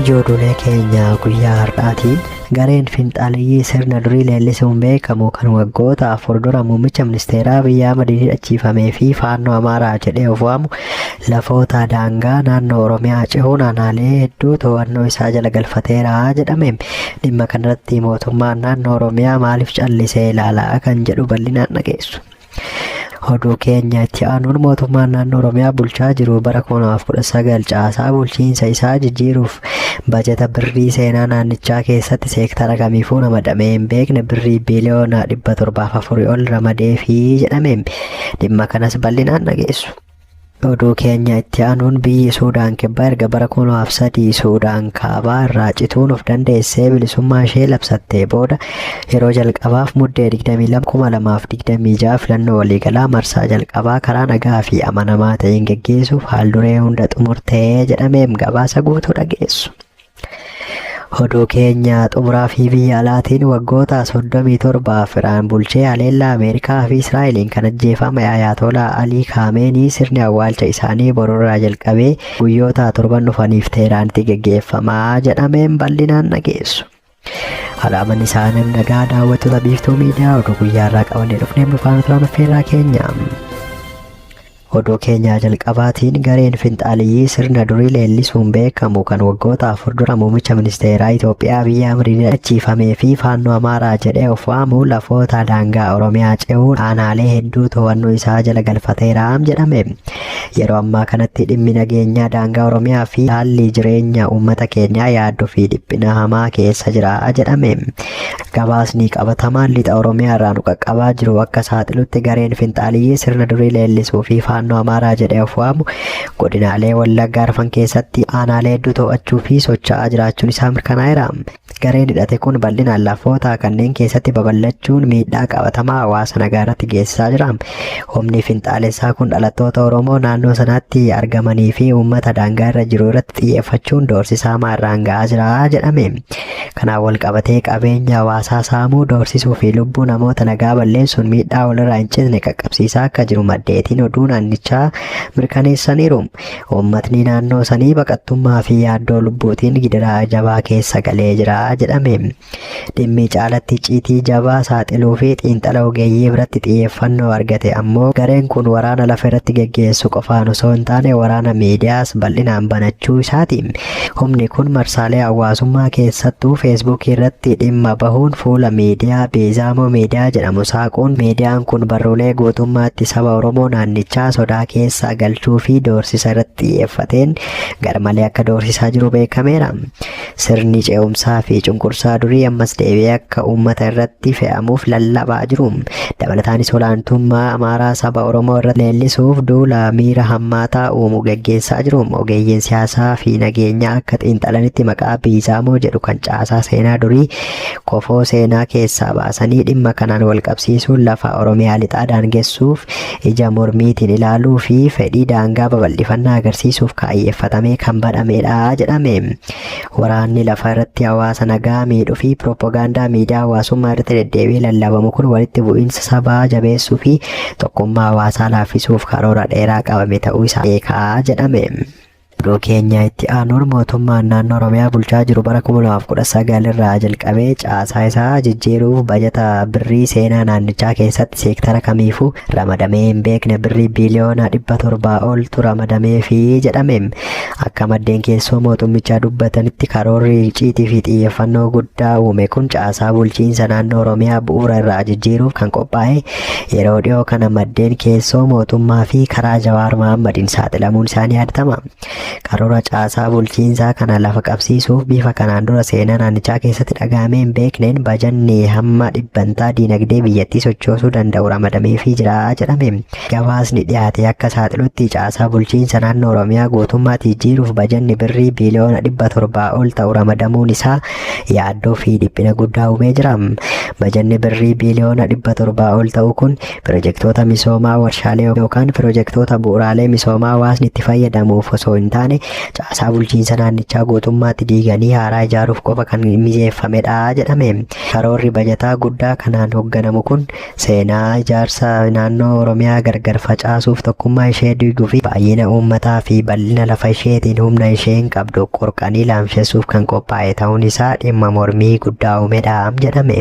Ijoollee keenya guyyaa har'aatiin gareen finxaaleyyii sirna durii leellisuun beekamu kan waggoota afur dura muummicha ministeeraa biyyaa madiidhachiifamee fi faannoo amaaraa jedhee of waamu lafoota daangaa naannoo Oromiyaa cehuun aanaalee hedduu to'annoo isaa jala galfateera jedhame. Dhimma kanarratti mootummaan naannoo Oromiyaa maaliif callisee ilaalaa kan jedhu bal'inaan dhageessu. Oduu keenya itti aanuun mootummaan naannoo Oromiyaa bulchaa jiru bara 2019 caasaa bulchiinsa isaa jijjiiruuf bajata birrii seenaa naannichaa keessatti seektara kamiifuu ramadamee hin beekne birrii biiliyoona 704 ol ramadee fi jedhame. Dhimma kanas bal'inaan dhageessu. Oduu keenya itti aanuun biyyi Suudaan kibbaa erga bara 2003 Suudaan kaabaa irraa cituun of dandeessee bilisummaa ishee labsattee booda yeroo jalqabaaf muddee 22,2026 filannoo waliigalaa marsaa jalqabaa karaa nagaa fi amanamaa ta'een geggeessuuf haal duree hunda xumurtee jedhameem gabaasa guutuu dhageessu. Oduu keenya xumuraa fi biyya alaatiin waggoota 37f Iraan bulchee haleellaa Ameerikaa fi Israa'eliin kan ajjeefame Ayaatoolaa Alii Kaameenii sirni awwaalcha isaanii borurraa jalqabee guyyoota torban dhufaniif Teeraanitti geggeeffamaa jedhameen bal'inaan dhageessu. Alaaman isaa nam nagaa daawwattoota biiftuu miidiyaa oduu guyyaarraa qabannee dhufnee bulfaana turan affeerraa keenya. Oduu keenyaa jalqabaatiin gareen finxaaliyyii sirna durii leellisuun beekamu kan waggoota afur dura muummicha ministeeraa Itoophiyaa Abiyyi Ahmadiin hidhachiifamee fi faannoo Amaaraa jedhee of waamu lafoota daangaa Oromiyaa ce'uun aanaalee hedduu to'annoo isaa jala galfateeraam jedhame. Yeroo ammaa kanatti dhimmi nageenyaa daangaa Oromiyaa fi haalli jireenya uummata keenyaa yaaddoo fi dhiphina hamaa keessa jira jedhame. Gabaasni qabatamaan lixa Oromiyaa irraa nu qaqqabaa jiru akka saaxilutti gareen finxaaliyyii sirna durii leellisuu fi faannoo Amaaraa jedhee of waamu godinaalee Wallagga arfan keessatti aanaalee hedduu to'achuu fi socho'aa jiraachuun isaa mirkanaa'eera. Gareen hidhate kun bal'inaan lafoota kanneen keessatti babal'achuun miidhaa qabatamaa hawaasa nagaa irratti geessisaa jira. Humni finxaalessaa kun dhalattoota Oromoo naannoo sanaatti argamanii fi uummata daangaa irra jiru irratti xiyyeeffachuun doorsisaa maarraan ga'aa jira jedhame. Kanaan walqabatee qabeenya hawaasaa saamuu, doorsisuu fi lubbuu namoota nagaa balleessuun miidhaa walirraa hin citne qaqqabsiisaa akka jiru maddeetiin oduu naannichaa mirkaneessaniiru. Uummatni naannoo sanii baqattummaa fi yaaddoo lubbuutiin gidiraa jabaa keessa galee jira jedhame. Dhimmi caalatti icciitii jabaa saaxiluu fi xiinxala ogeeyyii biratti xiyyeeffannoo argate ammoo gareen kun waraana lafa irratti geggeessu qofaan osoo hin taane waraana miidiyaas bal'inaan banachuu isaati. Humni kun marsaalee hawaasummaa keessattuu Feesbuukii irratti dhimma bahuun fuula miidiyaa Biizaamoo Miidiyaa jedhamu saaquun miidiyaan kun barruulee guutummaatti saba Oromoo naannichaa sodaa keessa galchuu fi doorsisa irratti xiyyeeffateen garmalee akka doorsisaa jiru beekameera. Sirni ce'umsaa fi cunqursaa durii ammas deebi'ee akka uummata irratti fe'amuuf lallabaa jiru. Dabalataanis olaantummaa Amaaraa saba Oromoo irratti leellisuuf duula miira hammaataa uumu gaggeessaa jiru. Ogeeyyiin siyaasaa fi nageenyaa akka xiinxalanitti maqaa Biizaamoo jedhu kan caasaa seenaa durii kofoo seenaa keessaa baasanii dhimma kanaan wal qabsiisuun lafa Oromiyaa lixaa daangessuuf ija mormiitiin ilaaluu fi fedhii daangaa babal'ifannaa agarsiisuuf kaayyeeffatamee kan badhamedha jedhame. Waraanni lafa irratti hawaasa nagaa miidhuu fi piroopagaandaa miidiyaa hawaasummaa irratti deddeebi'ee lallabamu kun walitti bu'iinsa sabaa jabeessuu fi tokkummaa hawaasaa laaffisuuf karoora dheeraa qabame ta'uu isaa beekaa jedhame. Oduu keenya itti aanuun mootummaan naannoo Oromiyaa bulchaa jiru bara 2019 irraa jalqabee caasaa isaa jijjiiruuf bajata birrii seenaa naannichaa keessatti seektara kamiifuu ramadamee hin beekne birrii biiliyoona 700 oltu ramadamee fi jedhame. Akka maddeen keessoo mootummichaa dubbatanitti karoorri icciitii fi xiyyeeffannoo guddaa uume kun caasaa bulchiinsa naannoo Oromiyaa bu'uura irraa jijjiiruuf kan qophaa'e yeroo dhiyoo kana maddeen keessoo mootummaa fi karaa Jawaar Mahaammadiin saaxilamuun isaanii yaadatama. Karoora caasaa bulchiinsaa kana lafa qabsiisuuf bifa kanaan dura seenaa naannichaa keessatti dhagahamee hin beekneen bajanni hamma dhibbantaa diinagdee biyyattii sochoosuu danda'u ramadameefii jira jedhame. gabaasni dhiyaate akka saaxilutti caasaa bulchiinsa naannoo Oromiyaa guutummaatti jijjiiruuf bajanni birrii biiliyoona dhibba torbaa ol ta'u ramadamuun isaa yaaddoo fi dhiphina guddaa uumee jira. Bajanni birrii biiliyoona dhibba torbaa ol ta'u kun pirojektoota misoomaa warshaalee yookaan pirojektoota bu'uuraalee misoomaa hawaasni itti fayyadamuuf osoo hin taane caasaa bulchiinsa naannichaa guutummaatti diiganii haaraa ijaaruuf qofa kan mijeeffamedha jedhame. Karoorri bajataa guddaa kanaan hoogganamu kun Seenaa ijaarsa naannoo Oromiyaa gargar facaasuuf tokkummaa ishee diiguu fi baay'ina uummataa fi bal'ina lafa isheetiin humna isheen qabdu qorqanii laamshessuuf kan qophaa'e ta'uun isaa dhimma mormii guddaa uumedha jedhame.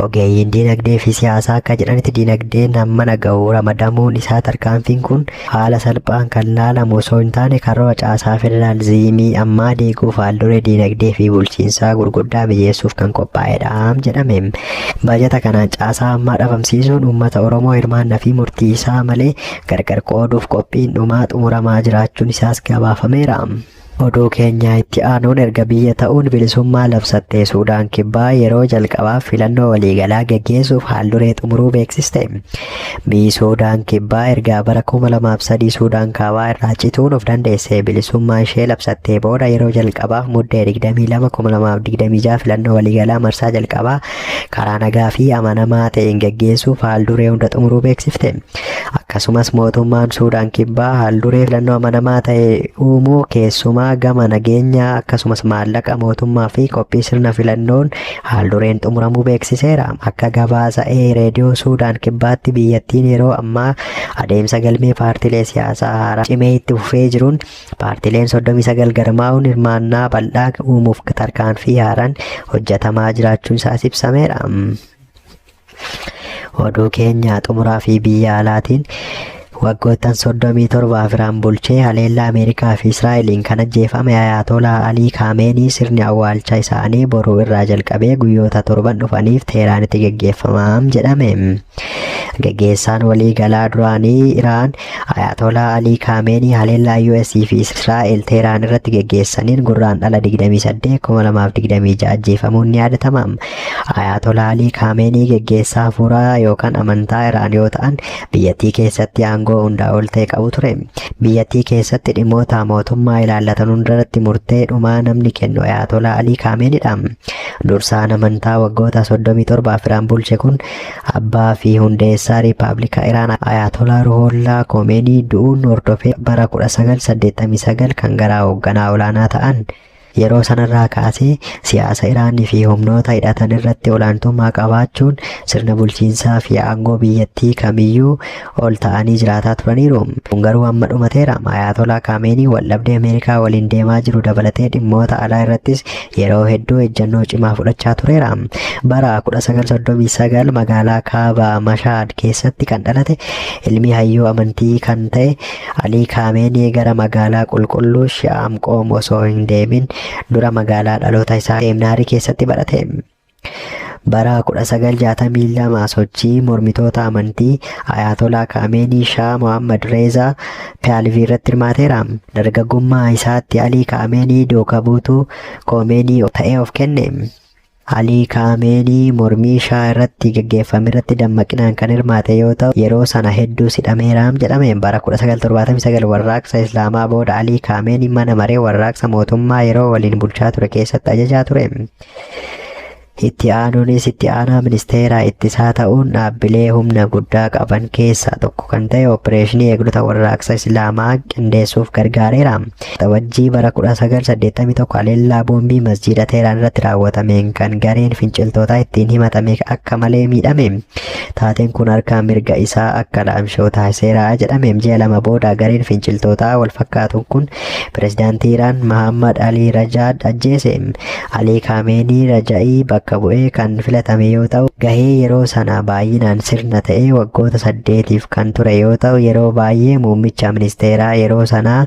Ogeeyyiin diinagdee fi siyaasaa akka jedhanitti diinagdeen hamma naga'u ramadamuun isaa tarkaanfiin kun haala salphaan kan laalamu osoo hin taane karoora caasaa federaalizimii ammaa diiguuf haalduree diinagdee fi bulchiinsaa gurguddaa mijeessuuf kan qophaa'edha jedhame. Baajata kanaan caasaa ammaa dhabamsiisuun uummata Oromoo hirmaanna fi murtii isaa malee gargar qooduuf qophiin dhumaa xumuramaa jiraachuun isaas gabaafameera. Oduu keenya itti aanuun erga biyya ta'uun bilisummaa labsattee Suudaan Kibbaa yeroo jalqabaaf filannoo waliigalaa geggeessuuf haal duree xumuruu beeksiste. Mii Suudaan Kibbaa ergaa bara 2003 Suudaan Kaabaa irraa cituun of dandeessee bilisummaa ishee labsattee booda yeroo jalqabaaf muddee 22 2026 filannoo waliigalaa marsaa jalqabaa karaa nagaa fi amanamaa ta'een gaggeessuuf haalduree hunda xumuruu beeksifte. Akkasumas mootummaan Suudaan Kibbaa haalduree filannoo amanamaa ta'e uumuu keessumaa gama nageenyaa akkasumas maallaqa mootummaa fi qophii sirna filannoon Haaldureen xumuramuu beeksiseera. Akka gabaasa ee reediyoo Suudaan kibbaatti biyyattiin yeroo ammaa adeemsa galmee paartilee siyaasaa haaraa cimee itti fufee jiruun paartileen 39 garmaa'uun hirmaannaa bal'aa uumuuf tarkaanfii haaraan hojjetamaa jiraachuun isaas ibsameera. Oduu keenya xumuraa fi biyya alaatiin waggoottan 37 Iraan bulchee haleellaa Ameerikaa fi Israa'eliin kan ajjeefame Ayaatolaa Alii Kaameenii sirni awwaalcha isaanii boruu irraa jalqabee guyyoota torban dhufaniif Teeraanitti geggeeffamaam jedhame. Geggeessaan waliigalaa duraanii Iraan Ayaatoolaa Alii Kaameenii haleellaa US fi Israa'el Teeraan irratti geggeessaniin gurraan dhala 28 2026 ajjeefamuun ni yaadatama. Ayaatoolaa Alii Kaameenii geggeessaa hafuuraa yookaan amantaa Iraan yoo ta'an biyyattii keessatti aangoo hundaa ol ta'e qabu ture. Biyyattii keessatti dhimmoota mootummaa ilaallatan hundarratti murtee dhumaa namni kennu Ayaatoolaa Alii Kaameenidha. Dursaan amantaa waggoota 37 Iraan bulche kun Abbaa fi hundeessaa Riippaabilika Iraan Ayaatolaa Ruhollaa Komeenii du'uun hordofee bara 1989 kan garaa hoogganaa olaanaa ta'an yeroo sanarraa kaasee siyaasa Iraanii fi humnoota hidhatan irratti olaantummaa qabaachuun sirna bulchiinsaa fi aangoo biyyattii kamiyyuu ol ta'anii jiraataa turaniiru. Kun garuu amma dhumateera. Ayaatolaa Kaameenii waldhabdee Ameerikaa waliin deemaa jiru dabalatee dhimmoota alaa irrattis yeroo hedduu ejjennoo cimaa fudhachaa tureera. Bara 1939 magaalaa kaaba Mashaad keessatti kan dhalate ilmi hayyuu amantii kan ta'e Alii Kaameenii gara magaalaa qulqulluu Shi'aam Qoom osoo hin deemin dura magaalaa dhaloota isaa Seemnaarii keessatti barate. Bara 1962 sochii mormitoota amantii Ayaatolaa Kaameenii Shaa Mohammad Reezaa Piyaalvii irratti hirmaateera. Dargaggummaa isaatti Alii Kaameenii duuka buutuu Koomeenii ta'ee of kenne. Alii Kaameenii mormii Shaa irratti gaggeeffame irratti dammaqinaan kan hirmaate yoo ta'u, yeroo sana hedduus hidhameeraam jedhame. Bara 1979 warraaqsa Islaamaa booda Alii Kaameenii mana maree warraaqsa mootummaa yeroo waliin bulchaa ture keessatti ajajaa ture. Itti aanuunis itti aanaa ministeera ittisaa ta'uun dhaabbilee humna guddaa qaban keessaa tokko kan ta'e opereeshinii eegdota warraaqsa Islaamaa qindeessuuf gargaareera. Waxabajjii bara 1981 haleellaa boombii masjiida Teeraan irratti raawwatameen kan gareen finciltootaa ittiin himatame akka malee miidhame. Taateen kun harka mirga isaa akka laamsha'u taasiseera jedhame. Ji'a lama booda gareen finciltootaa wal fakkaatuun kun Pirezidaantii Iraan Mahaammad Alii Rajaad ajjeese. Alii Kaameenii Raja'ii bakka bu'ee kan filatame yoo ta'u, gahee yeroo sana baay'inaan sirna ta'ee waggoota saddeetiif kan ture yoo ta'u, yeroo baay'ee muummicha ministeeraa yeroo sanaa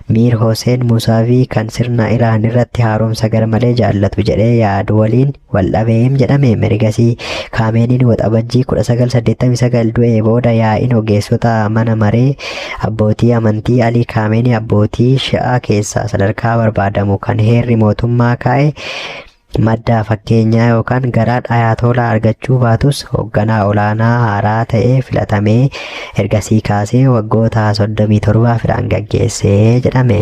Miir Hoseen Musaavii kan sirna Iraan irratti haaromsa garmalee jaallatu jedhee yaadu waliin waldhabeem jedhame merigasii kaameeniin waxabajjii 1989 du'ee booda yaa'iin ogeessota mana maree abbootii amantii alii kaameenii abbootii shi'aa keessaa sadarkaa barbaadamu kan heerri mootummaa kaa'e maddaa fakkeenyaa yookaan garaa dhayaatoolaa argachuu baatus hoogganaa olaanaa haaraa ta'ee filatamee ergasii kaasee waggoota 37 firaan gaggeessee jedhame.